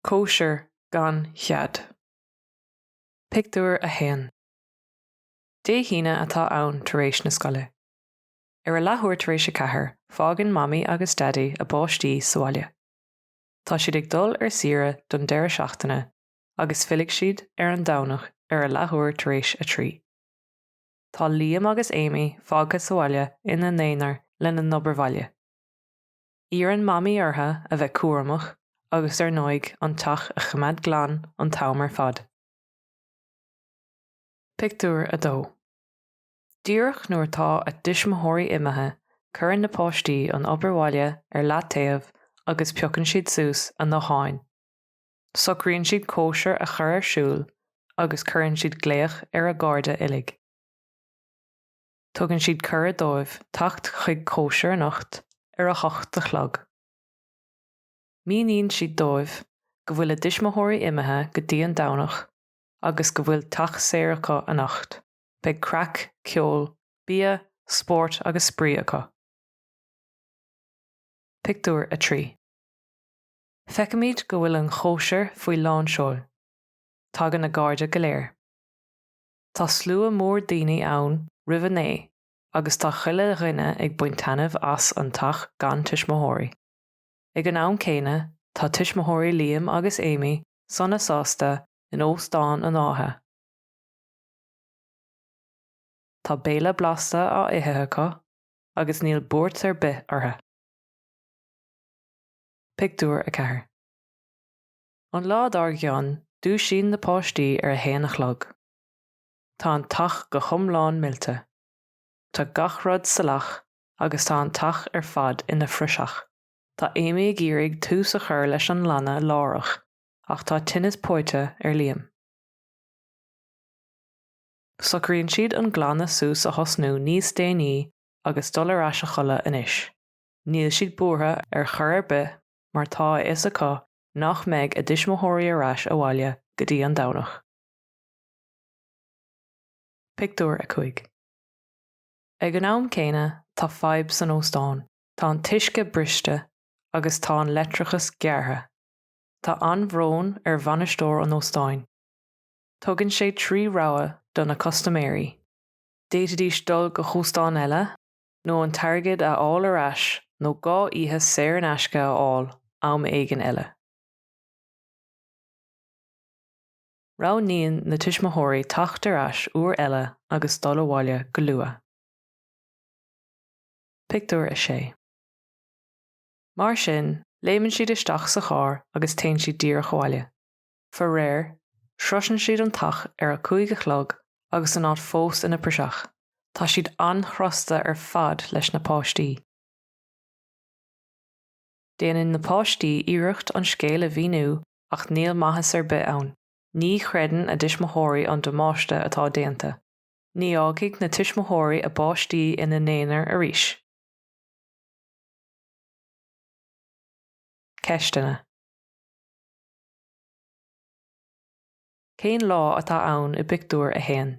Cóisir gan iúl. Pictiúr 1 Dé hAoine atá ann, tar éis na scoile. Ar a leathuair tar éis a ceathair, fágann Mamaí agus Daidí a bpáistí sa bhaile. Tá siad ag dul ar saoire don deireadh seachtaine agus fillfidh siad ar an Domhnach ar a leathuair tar éis a trí. Tá Liam agus Amy fágtha sa bhaile ina n-aonar lena n-obair bhaile. Iarrann Mamaí orthu a bheith cúramach agus ar ndóigh an teach a choimeád glan an t-am ar fad. Pictiúr 2 Díreach nuair atá a dtuismitheoirí imithe, cuireann na páistí an obair bhaile ar leataobh agus piocann siad suas a bhfóin. Socraíonn siad cóisir a chur ar siúl agus cuireann siad glaoch ar a gcairde uilig. Tugann siad cuireadh dóibh teacht chuig cóisir anocht ar a hocht a chlog. Míníonn siad dóibh go bhfuil a dtuismitheoirí imithe go dtí an Domhnach agus go bhfuil teach saor acu anocht. Beidh craic, ceol, bia, spórt agus spraoi acu. Pictiúr 3. Feicimid go bhfuil an chóisir faoi lánseol. Tagann a gcairde go léir. Tá slua mór daoine ann roimh a naoi agus tá chuile dhuine ag baint taitneamh as an teach gan tuismitheoirí. Ag an am céanna tá tuismitheoirí Liam agus Amy sona sásta in Óstán an Átha. Tá béile blasta á ithe acu agus níl buairt ar bith orthu. Pictiúr 4 An lá dár gcionn, dúisíonn na páistí ar a haon a chlog. Tá an teach go hiomlán millte. Tá gach rud salach agus tá an teach ar fad ina phraiseach. Tá Amy ag iarraidh tús a chur leis an nglanadh láithreach ach tá tinneas póite ar Liam. Socraíonn siad an glanadh suas a thosnú níos déanaí agus dul ar ais a chodladh anois. Níl siad buartha ar chor ar bith mar tá a fhios acu nach mbeidh a dtuismitheoirí ar ais abhaile go dtí an Domhnach. Pictiúr 5 Ag an am céanna tá fadhb san óstán. Tá an t-uisce briste agus tá an leictreachas gearrtha. Tá an-bhrón ar bhainisteoir an óstáin. Tugann sé trí rogha do na custaiméirí. D'fhéadfaidís dul go hóstán eile, nó an t-airgead a fháil ar ais nó dhá oíche saor in aisce a fháil am éigin eile. Roghnaíonn na tuismitheoirí teacht ar ais uair eile agus dul abhaile go luath. Pictiúr 6 Mar sin, léimeann siad isteach sa charr agus téann siad díreach abhaile. Faraor, sroiseann siad an teach ar a cúig a chlog agus an áit fós ina praiseach. Tá siad an-chrosta ar fad leis na páistí. Déanann na páistí iarracht an scéal a mhíniú ach níl maitheas ar bith ann. Ní chreideann a dtuismitheoirí an damáiste atá déanta. Ní fhágfaidh na tuismitheoirí a bpáistí ina n-aonar arís. Ceisteanna. Cén lá atá ann i bpictiúr a haon?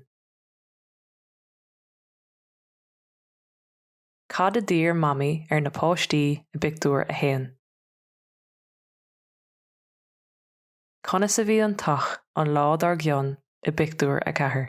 Cad a d'iarr Mamaí ar na páistí i bpictiúr a haon? Conas a bhí an teach an lá dár gcionn i bpictiúr a ceathair?